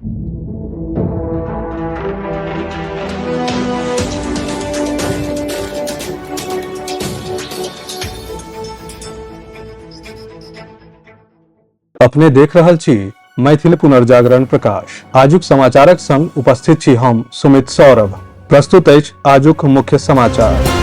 अपने देख रहल छी मैथिल पुनर्जागरण प्रकाश आजुक समाचारक संग उपस्थित छी हम सुमित सौरभ प्रस्तुत अछि आजुक मुख्य समाचार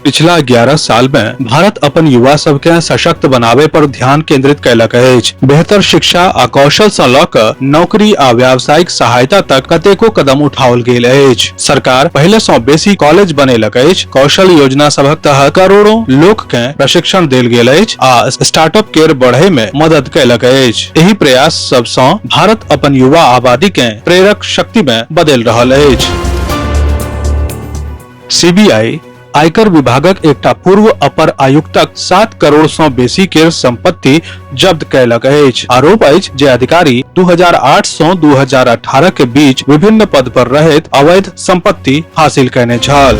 पिछला 11 साल मे भारत अपन युवा सब के सशक्त बनावे पर ध्यान केंद्रित कैलक अछि बेहतर शिक्षा आ कौशल सँ लऽ कऽ नौकरी आ व्यावसायिक सहायता तक कतेको कदम उठाओल गेल अछि सरकार पहिले सँ बेसी कॉलेज बनेलक अछि कौशल योजना सभक तहत करोड़ों लोक के प्रशिक्षण देल गेल अछि आ स्टार्टअप केर बढ़े मे मदद कैलक अछि एहि प्रयास सबसँ भारत अपन युवा आबादी के प्रेरक शक्ति में बदल रहल अछि सीबीआई आयकर विभागक एकटा पूर्व अपर आयुक्तक सात करोड़ सं बेसी केर संपत्ति जब्त कयलक अछि आरोप अछि जे अधिकारी 2008 सं 2018 के बीच विभिन्न पद पर रहैत अवैध संपत्ति हासिल कयने छल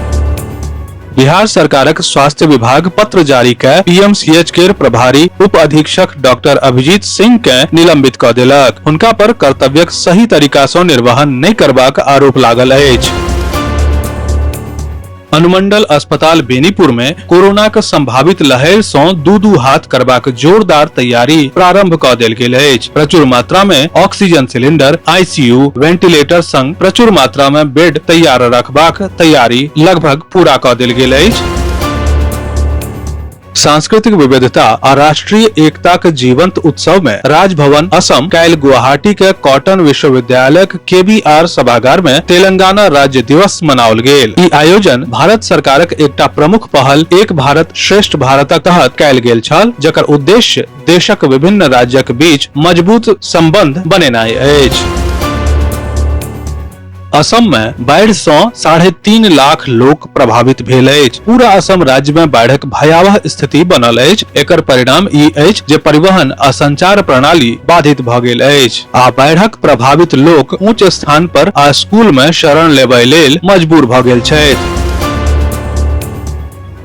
बिहार सरकारक स्वास्थ्य विभाग पत्र जारी कय पीएमसीएच केर प्रभारी उप अधीक्षक डॉक्टर अभिजीत सिंह के निलंबित कऽ देलक हुनका पर कर्तव्यक सही तरीका सँ निर्वहन नहि करबाक आरोप लागल अछि अनुमंडल अस्पताल बेनीपुर मे कोरोनाक संभावित लहर सँ दू दू हाथ करबाक जोरदार तैयारी प्रारंभ कऽ देल गेल अछि प्रचुर मात्रा मे ऑक्सीजन सिलेंडर आईसीयू वेंटिलेटर संग प्रचुर मात्रा मे बेड तैयार रखबाक तैयारी लगभग पूरा कऽ देल गेल अछि सांस्कृतिक विविधता आ राष्ट्रीय एकताक जीवंत उत्सव में राजभवन असम काल्हि गुवाहाटी के कॉटन विश्वविद्यालय केबीआर सभागार में तेलंगाना राज्य दिवस मनाओल गेल ई आयोजन भारत सरकारक एकटा प्रमुख पहल एक भारत श्रेष्ठ भारतक तहत कयल गेल छल जकर उद्देश्य देशक विभिन्न राज्यक बीच मजबूत संबंध बनेनाई अछि असम मे बाढ़ि सं साढ़े तीन लाख लोक प्रभावित भेल अछि पूरा असम राज्य मे बाढ़िक भयावह स्थिति बनल अछि एकर परिणाम ई अछि जे परिवहन आ संचार प्रणाली बाधित भ गेल अछि आ बाढ़िक प्रभावित लोक ऊंच स्थान पर आ स्कूल मे शरण लेबय लेल मजबूर भ गेल छथि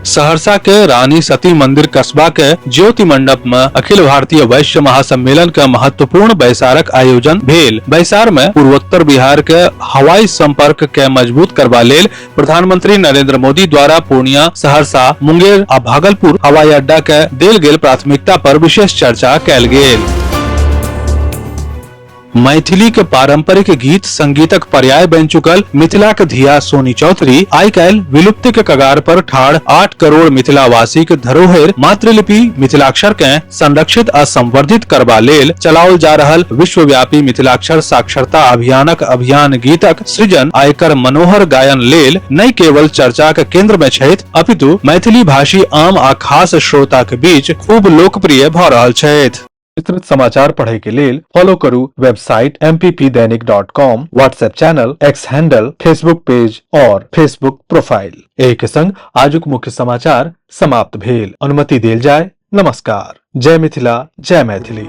सहरसा के रानी सती मंदिर कस्बा के ज्योति मंडप में अखिल भारतीय वैश्य महासम्मेलन के महत्वपूर्ण बैसारक आयोजन भेल बैसार में पूर्वोत्तर बिहार के हवाई संपर्क के मजबूत करबा लेल प्रधानमंत्री नरेंद्र मोदी द्वारा पूर्णिया सहरसा मुंगेर आ भागलपुर हवाई अड्डा के देल गेल प्राथमिकता पर विशेष चर्चा कैल गेल मैथिली के पारंपरिक गीत संगीतक पर्याय बनि चुकल मिथिला के धिया सोनी चौधरी आइ काल्हि विलुप्ति के कगार पर ठाड़ आठ करोड़ मिथिला वासी के धरोहर मातृलिपि मिथिलाक्षर के संरक्षित आ संवर्धित करबा लेल चलाओल जा रहल विश्वव्यापी मिथिलाक्षर साक्षरता अभियानक अभियान गीतक सृजन आ एकर मनोहर गायन लेल नहि केवल चर्चा के केंद्र में छथि अपितु मैथिली भाषी आम आ खास श्रोता के बीच खूब लोकप्रिय भऽ रहल छथि विस्तृत समाचार पढ़े के लेल फॉलो करू website M P P Dainik dot com WhatsApp channel X handle Facebook page और फेसबुक प्रोफाइल एहि के संग आजुक मुख्य समाचार समाप्त भेल अनुमति देल जाय नमस्कार जय मिथिला जय मैथिली